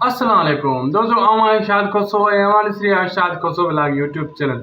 اسلام عليڪم دوستو آئون آهيان شاد کوسو ۽ اوهان ڏسي رهيا آهيو Shad Khoso vlog YouTube channel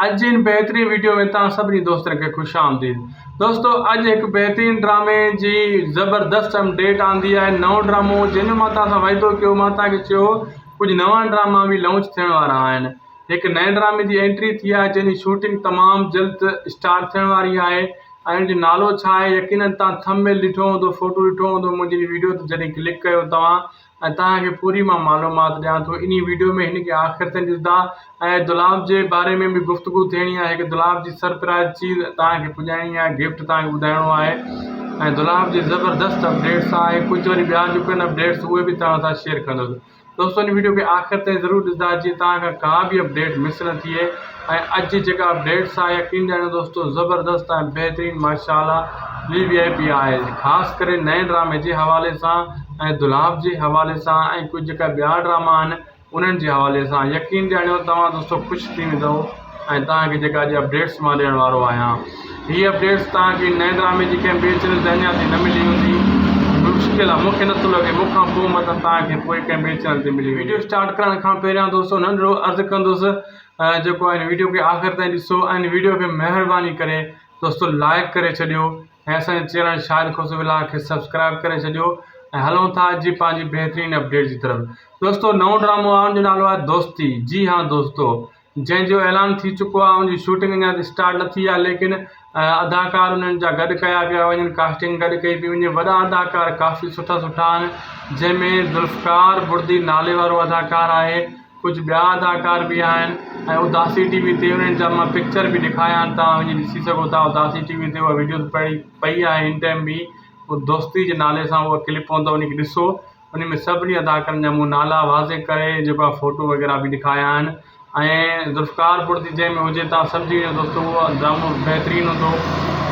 اڄ جي هن بهترين ويڊيو ۾ توهان سڀني دوستن کي خوش آمديد دوستو اڄ هڪ بهترين ڊرامي جي زبردست اپ ڊيٽ آندي آهي نئون ڊرامو جنهن جو مان توهان سان وعدو ڪيو مان توهان کي چيو هو ڪجهه نوان ڊراما به لانچ ٿيڻ وارا آهن هڪ نئين ڊرامي جي انٽري ٿي آهي جنهن جي شوٽنگ تمام جلد اسٽارٽ ٿيڻ واري آهي ۽ ان جو نالو ڇا آهي يقينن توهان ٿمب نيل ڏٺو هوندو فوٽو ڏٺو هوندو منهنجي هن ويڊيو تي جڏهن ڪلڪ ڪيو توهان ۽ توهان کي پوري مان معلومات ڏيان ٿو انهي ويڊيو ۾ هن کي آخر تائين ڏسدا ۽ دولاب جي باري ۾ به گفتگو ٿيڻي آهي هڪ دولاب جي سرپرائز چيز توهان کي پڄائڻي آهي گفٽ توهان کي ٻڌائڻو آهي ۽ دولاب جي زبردست اپڊيٽس آهي ڪجهه وري ٻيا جو ڪن اپڊيٽس اهي به توهان سان شيئر ڪندس دوستو ان ويڊيو کي آخر تائين ضرور ڏسدا جيئن توهان کان ڪا به اپڊيٽ مس نه ٿئي ۽ اڄ جي جيڪا بيٽس آهي يقين ڏياريو دوستو زبردست ۽ بهترين ماشاءالله وي وي آئي پي آهي خاص ڪري نئين ڊرامي جي حوالي سان ۽ دولاب جي حوالي سان ۽ ڪجهه جيڪا ٻيا ڊراما آهن انهن جي حوالي سان يقين ڏياريو توهان دوستو خوش ٿي ويندو ۽ توهان کي جيڪا اڄ اپڊيٽس مان ڏيڻ وارو آهيان هي اپڊيٽس توهان کي نئين ڊرامي جي ڪنهن ٻئي چينل تي اڃا تائين نه ملي هوندي مشڪل آهي مونکي نٿو لڳي مون کان پوء مطلب توهان کي پوء ڪنهن ٻئي چينل تي ملي ويندي وڊيو اسٽارٽ ڪرڻ کان پهريان دوستو ننڍڙو عرض ڪندس جيڪو هن ويڊيو کي آخر تائين ڏسو ۽ ويڊيو کي مهرباني ڪري دوستو لائق ڪري ڇڏيو ۽ اسان جي چينل شاهد خوش ولاگ کي سبسڪرائب ڪري ڇڏيو ۽ هلون ٿا اڄ جي پنهنجي بهترين اپڊيٽ جي طرف دوستو نئون ڊرامو آهي ان جو نالو آهي دوستي جي ها دوستو جنهن جو اعلان ٿي چڪو آهي ان جي شوٽنگ اڃا اسٽارٽ نه ٿي آهي ليڪن اداڪار انهن جا گڏ ڪيا پيا وڃن ڪاسٽنگ گڏ ڪئي پئي وڃي وڏا اداڪار ڪافي سٺا سٺا آهن جنهن ۾ ذوالفقار بڙدي نالي وارو اداڪار آهي ڪجهه ٻيا اداڪار بي آهن ۽ اداسي ٽي وي تي انهن جا مان پڪچر بي ڏيکاريان تان وڃي ڏسي سگهو ٿا اداسي ٽي وي تي اها وڊيو پئي آهي ان ٽائيم بي دوستي جي نالي سان اها ڪلپ پوندو وڃي ڏسو انهي ۾ سڀني اداڪارن جا مون نالا واضح ڪري جيڪو آهي فوٽو وغيره به ڏيکاريا آهن ۽ ذوالفقار پور ٿي جنهن ۾ هجي تان سمجهي وڃو دوستو اهو ڊرامو بهترين هوندو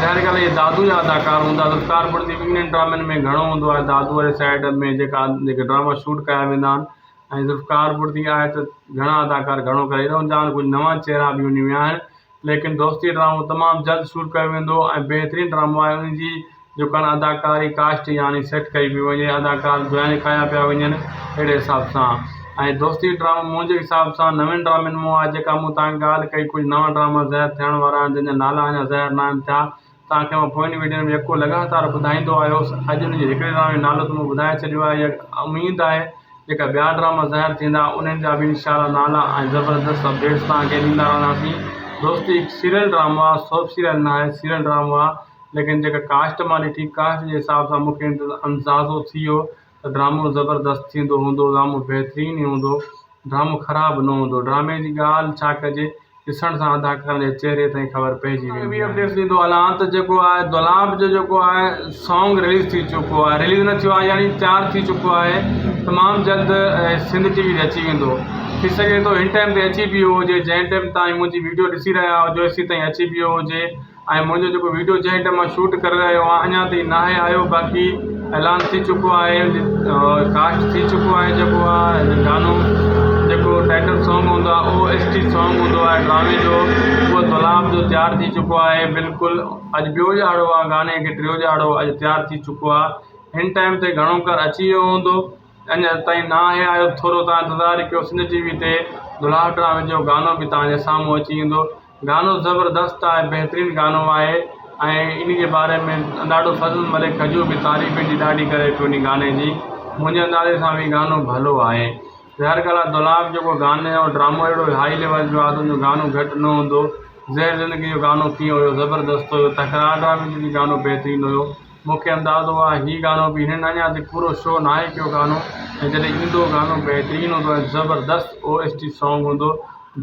ظاهر ڳالهه اهي دادو جا اداڪار هوندا ذوالفقار پور ٿي انهن ڊرامن ۾ گهڻو هوندو آهي دادو واري سائيڊ ۾ جيڪا جيڪي ڊراما شوٽ ڪيا ويندا آهن ۽ ذوالفقار پور ٿي آهي ته گهڻا اداڪار گهڻو ڪري رهندا آهن ڪجهه نوان چهرا به انهي ۾ آهن ليڪن دوستي ڊرامو تمام جلد شور ڪيو ويندو ۽ بهترين ڊرامو آهي ان جي جو ڪڻ اداڪاري ڪاسٽ يعني سيٽ ڪئي پئي وڃي اداڪار جوائن ڪيا پيا وڃن اهڙي حساب سان ۽ دوستي ڊرامو منهنجي حساب سان نوين ڊرامن مون آهي جيڪا مون تان ڳالهه ڪئي ڪجهه نوان ڊراما ظاهر ٿيڻ وارا آهن جن جا نالا اڃا ظاهر ناهن ٿيا توهان کي مان پوين ويڊيون ۾ يڪو لڳاتار ٻڌائيندو آيو هوس اڄ ان جي هڪڙي ڊرامي جو نالو ته مون ٻڌائي ڇڏيو آهي اها اميد آهي جيڪا ٻيا ڊراما ظاهر ٿيندا انهن جا به انشاء الله نالا ۽ زبردست اپڊيٽس توهان کي ڏيندا رهنداسين دوستي هڪ سيريل ڊرامو آهي سوپ سيريل نه آهي سيريل ڊرامو آهي ليڪن جيڪا ڪاسٽ مان ڏٺي ڪاسٽ جي حساب سان مون کي اندازو ٿي ويو ته ڊرامو زبردست ٿيندو هوندو ڊرامو بهترين ئي هوندو ڊرامو خراب نه هوندو ڊرامي جي ڳالهه ڇا ڪجي ڏسڻ سان اداڪارن جي چهري تائين خبر پئجي ويندي آهي ٻي اپڊيٽس ڏيندو هلان ته جيڪو آهي دولاب جو جيڪو آهي سانگ رليز ٿي چڪو آهي رليز نه ٿيو آهي يعني تيار ٿي چڪو آهي تمام جلد سنڌ ٽي وي تي اچي ويندو ٿي سگهي ٿو هن ٽائيم تي اچي بي هجي جنهن ٽائيم تائين منهنجي ويڊيو ڏسي رهيا هجو هيسي تائين اچي بيو هجي ۽ منهنجو جيڪو ويڊيو جنهن ٽيم مان شوٽ ڪري رهيو آهيان اڃان تائين ناهي آيو باقي اعلان ٿي چڪو آهي ڪاسٽ ٿي چڪو آهي جيڪو آهي گانو جيڪو ٽائٽل سانگ هوندو آهي او ايس ٽي سانگ هوندو آهي ڊرامي جو اهو گلاب جو تيار ٿي چڪو آهي بلڪل اڄ ٻيو ڄاڙو آهي گاني کي ٽيو ڄاڙو اڄ تيار ٿي چڪو آهي هن ٽائيم تي گهڻو ڪر اچي ويو هوندو اڃا تائين ناهي آيو ٿورو تان انتظار ڪيو سنڌ ٽي وي تي دولهه ڊرامي جو گانو به تان جي سامهون اچي ويندو گانو زبردست آهي بهترين گانو آهي ۽ انهي جي باري ۾ ڏاڍو فضل ملڪ کجو به تعريف انهي جي ڏاڍي ڪري پيو انهي گاني جي منهنجي اندازي سان به گانو ڀلو آهي ظاهر ڳالهه آهي دولاب جيڪو گاني جو ڊرامو اهڙو هائي ليول جو آهي ته انهي جو گانو گهٽ نه هوندو زهر زندگي جو گانو ڪيئن هيو زبردست هيو تڪرار ڊرامي جو به گانو بهترين هيو مون کي اندازو آ هي گانو به هنن اڃا تائين پورو شو ناهي ڪيو گانو ۽ جڏهن ايندو گانو بهترين هوندو ۽ زبردست او ايس ٽي سانگ هوندو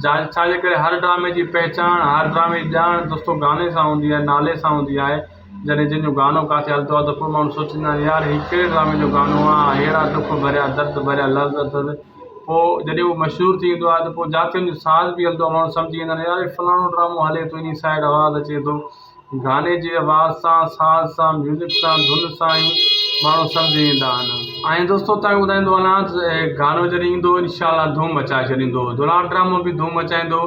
جا ڇا جي ڪري هر ڊرامي جي پهچاڻ هر ڊرامي جي ڄاڻ دوستو گاني سان هوندي آهي نالي سان هوندي آهي جڏهن جنهن جو گانو ڪاٿي هلندو آهي ته پوء ماڻهو سوچيندا آهن يار هي ڪهڙي ڊرامي جو گانو آ ههڙا ڏک ڀريا درد ڀريا لفظ اٿس پوء جڏهن هو مشهور ٿي ويندو آهي ته پوء جاٿي ان جو ساز به هلندو آهي ماڻهو سمجهي ويندا آهن يار هي فلاڻو ڊرامو هلي ٿو انهي سائيڊ آواز اچي ٿو گاني جي آواز سان ساز سان ميوزڪ سان ڌن سان ئي ماڻهو سمجهي ويندا آهن ۽ دوستو تنهن ٻڌائيندو هلان ته هي گانو جڏهن ايندو انشاء الله ڌوم مچائي ڇڏيندو دلال ڊرامو به ڌوم مچائيندو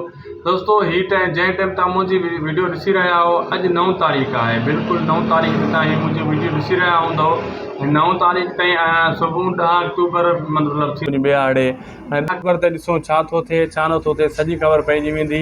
دوستو هي ٽائيم جنهن ٽائيم تان منهنجي ويڊيو ڏسي رهيا آهو اڄ نو تاريخ آهي بلڪل نو تاريخ تان هي منهنجي ويڊيو ڏسي رهيا هوندو نو تاريخ تائين آهيان صبح ڏهه اڪتوبر مطلب ٿي ٻي آڙي ۽ اڪبر تي ڏسو ڇا ٿو ٿئي ڇا نٿو ٿئي سڄي خبر پئجي ويندي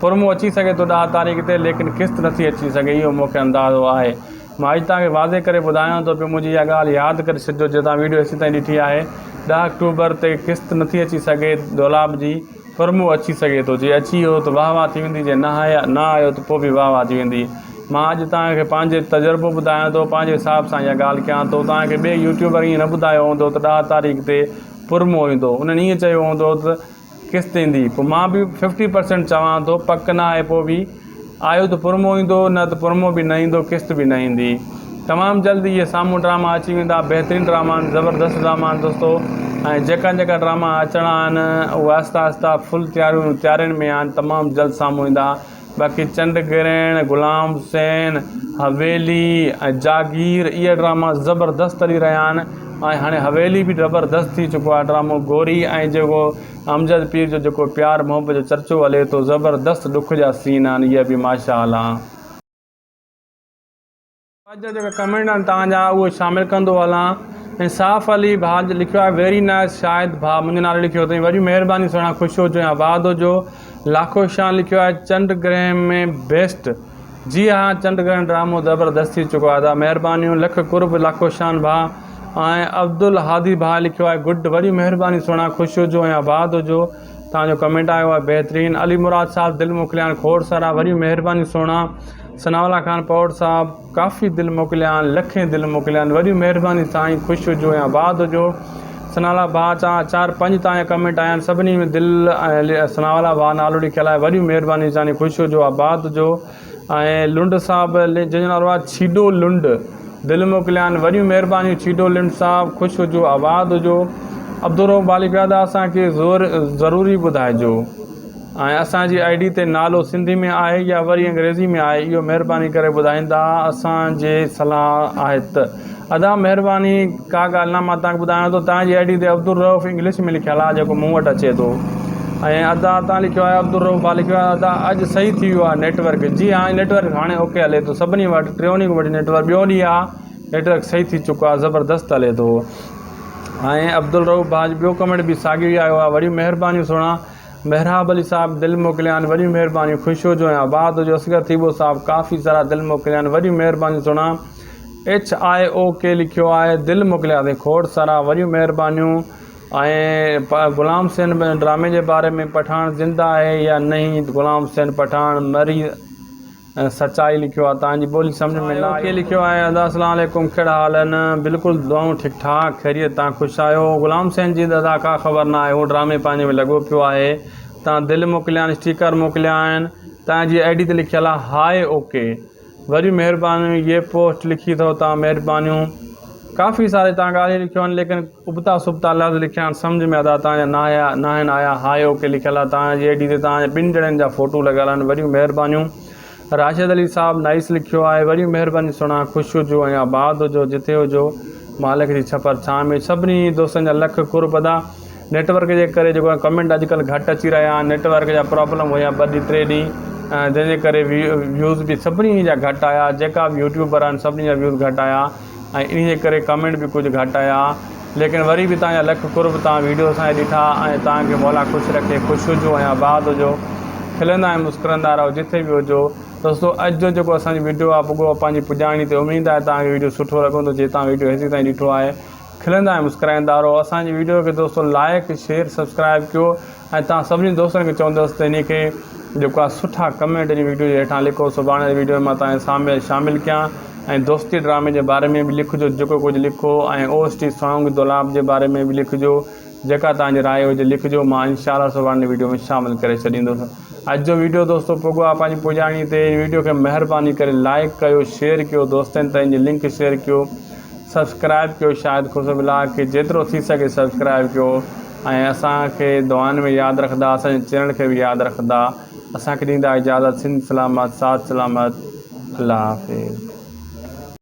پرمون اچي سگهي ٿو ڏهه تاريخ تي ليڪن قسط نٿي اچي سگهي اهو مون کي اندازو آهي مان اڄ توهان کي واضح ڪري ٻڌايان ٿو پيو منهنجي اها ڳالهه ياد ڪري ڇڏجو جي توهان ويڊيو هيسين تائين ڏٺي آهي ڏهه آڪٽوبر تي قسط نٿي اچي سگهي دولاب جي پرمون اچي سگهي ٿو جي اچي ويو ته واهه واهه ٿي ويندي جي نه آيو ته پوء به واهه واهه ٿي ويندي مان اڄ توهان کي پنهنجي تجربو ٻڌايان ٿو پنهنجي حساب سان اها ڳالهه ڪيان ٿو توهان کي ٻئي يوٽيوبر ائين نه ٻڌايو هوندو ته ڏهه تاريخ تي پرمون ايندو انهن ائين چيو هوندو ته قسط ايندي پوء مان به ففٽي پرسينٽ چوان ٿو پڪ نه آهي پوء به آيو ته پرمو ايندو نه ته پرمو به نه ايندو قسط به نه ايندي تمام جلد اهي سامهون ڊراما اچي ويندا بهترين ڊراما آهن زبردست ڊراما آهن دوستو ۽ جيڪا جيڪا ڊراما اچڻا آهن اهو آهسته آهسته فل تياريون تيارين ۾ آهن تمام جلد سامهون ايندا باقي چنڊ گرهڻ، غلام حسين، حويلي ۽ جاگير اهي ڊراما زبردست هلي رهيا آهن ۽ هاڻي حويلي به زبردست ٿي چڪو آهي ڊرامو گوري ۽ جيڪو امجد پير جو جيڪو پيار محبت جو چرچو هلي ٿو زبردست ڏک جا سين آهن اهي به ماشاءالله. اوهان جا جيڪا ڪمينٽ آهن توهان جا اهي شامل ڪندو هلان انصاف علي ڀاء جو لکيو آهي ويري نائس شاهد ڀاء منهنجي نالي لکيو اٿئي وڏي مهرباني سهڻا خوش هجو ۽ آباد هجو لاکو شان لکيو آهي چنڊ گرهن ۾ بيسٽ جي ها چنڊ گرهن ڊرامو زبردست ٿي چڪو آهي ادا مهربانيون لک قرب لاکو شان ڀاء ۽ عبدالهادي ڀاء لکيو آهي گڊ وڏي مهرباني سهڻا خوش هجو ۽ آباد هجو توهان جو ڪمينٽ آيو آهي بهترين. علي مراد صاحب دل موڪليان کوڙ سارا وڏيون مهربانيون سهڻا ثناء الله خان پوڙ صاحب ڪافي دل موڪليان لکين دل موڪليان وڏيون مهربانيون سائين خوش هجو ۽ آباد هجو ثناء الله ڀاء چا چار پنج تايان ڪمينٽ آيا آهن سڀني ۾ دل ۽ ثناء الله ڀاء نالو لکيل آهي وڏيون مهربانيون سائين خوش هجو آباد هجو ۽ لنڊ صاحب جنهن جو نالو آهي ڇيڊو لنڊ دل موڪليان وڏيون مهربانيون ڇيڊو لنڊ صاحب خوش هجو آباد هجو عبدالرؤف باليپيادا اسان کي ضروري ٻڌائجو ۽ اسان جي آئي ڊي تي نالو سنڌي ۾ آهي يا وري انگريزي ۾ آهي اهو مهرباني ڪري ٻڌائيندا اسان جي صلاح آهي ته ادا مهرباني ڪا ڳالهه نه مان توهان کي ٻڌايان ٿو توهان جي آئي ڊي تي عبدالروف انگلش ۾ لکيل آهي جيڪو مون وٽ اچي ٿو ۽ ادا توهان لکيو آهي عبدالروف ڀا لکيو آهي ادا اڄ صحيح ٿي ويو آهي نيٽورڪ جي ها نيٽورڪ هاڻي اوڪي هلي ٿو سڀني وٽ ٽيوني کي وٺي نيٽورڪ ٻيو ڏينهن آهي نيٽورڪ صحيح ٿي چڪو آهي زبردست هلي ٿو ۽ عبدالروف ڀا جو ٻيو ڪمينٽ به ساڳيو ئي آيو آهي وڏيون مهربانيون سهڻا محراب علي صاحب دل موڪليا آهن وڏيون مهربانيون خوش هجو ۽ آباد هجو اصغر ٿيٻو صاحب ڪافي سارا دل موڪليا آهن وڏيون مهربانيون سهڻا ايڇ آء او ڪي لکيو آهي دل موڪليا ٿي کوڙ سارا وڏيون مهربانيون ۽ غلام حسين ڊرامي جي باري ۾ پٺاڻ زنده آهي يا نهين غلام حسين پٺاڻ مري سچائي لکيو آهي تان جي ٻولي سمجھ ۾ نه آئي لکيو آهي ادا السلام عليڪم ڪهڙا حال آهن بلڪل دعائون ٺيڪ ٺاڪ خيريت تان خوش آهيو غلام حسين جي دادا ڪا خبر نه آهي هو ڊرامي پنهنجي ۾ لڳو پيو آهي تان دل موڪليا آهن اسٽيڪر موڪليا آهن تان جي آئي ڊي تي لکيل آهي هاء او ڪي وري مهرباني يي پوسٽ لکي اٿو تان مهربانيون ڪافي ساري تان ڳالهيون لکيون آهن ليڪن ابتا سبتا لفظ لکيا آهن سمجهه ۾ ادا تان جا ناهيا ناهن آيا هاء او ڪي لکيل آهي تان جي آئي ڊي تي تان جي ٻن ڄڻين جا فوٽو لڳل آهن وريون مهربانيون راشد علي صاحب نائيس لکيو آهي وريون مهربانيون سهڻا خوش هجو ۽ آباد هجو جتي هجو مالڪ جي ڇپر ڇانو سڀني دوستن جا لک قرب ادا. نيٽ ورڪ جي ڪري جيڪو آهي ڪمينٽ اڄ ڪلهه گهٽ اچي رهيا آهن نيٽ ورڪ جا پرابلم هيا ٻه ڏينهن ٽي ڏينهن جنهن جي ڪري ويو ويوز به سڀني جا گهٽ آهيا جيڪا به يوٽيوبر آهن سڀني جا ويوز گهٽ آهيا ۽ ان جي ڪري ڪمينٽ به ڪجهه گهٽ آهيا ليڪن وري به تنهنجا لک قرب تنهن ويڊيو اسان جي ڏٺا ۽ تنهن کي مولا خوش رکي خوش هجو ۽ آباد هجو کلندا ۽ مسڪرندا رهو جٿي به هجو دوستو اڄ جو جيڪو اسان جي ويڊيو آهي پڳو پنهنجي پڄاڻي تي اميد آهي تنهن کي ويڊيو سٺو لڳندو جي تنهن ويڊيو هيسي تائين ڏٺو آهي کلندا ۽ مسڪرائيندا رهو اسان جي ويڊيو کي دوستو لائيڪ شيئر سبسڪرائيب ڪيو ۽ توهان سڀني دوستن کي چوندس ته انهي کي جيڪو آهي سٺا ڪمينٽ انهي ويڊيو جي هيٺان لکو سڀاڻي جي ويڊيو ۾ مان توهان جي سامي شامل ڪيان ۽ دوستي ڊرامي جي باري ۾ به لکجو جيڪو ڪجهه لکو ۽ او ايس ٽي سانگ دولاب جي باري ۾ به لکجو جيڪا توهان جي راء هجي لکجو مان انشاء الله سڀاڻي جي ويڊيو ۾ شامل ڪري ڇڏيندس اڄ جو ويڊيو دوستو پڳو آهي پنهنجي پڄاڻي تي انهي ويڊيو کي مهرباني ڪري لائيڪ ڪيو شيئر ڪيو دوستن تائين جي لنڪ شيئر ڪيو سبسڪرائب ڪيو شاهد خوسرو ولاگ کي جيترو ٿي سگهي سبسڪرائب ڪيو ۽ اسان کي دعائن ۾ ياد رکندا اسان جي چينل کي به ياد رکندا اسان کي ڏيندا اجازت سنڌ سلامت ساٿ سلامت الله حافظ.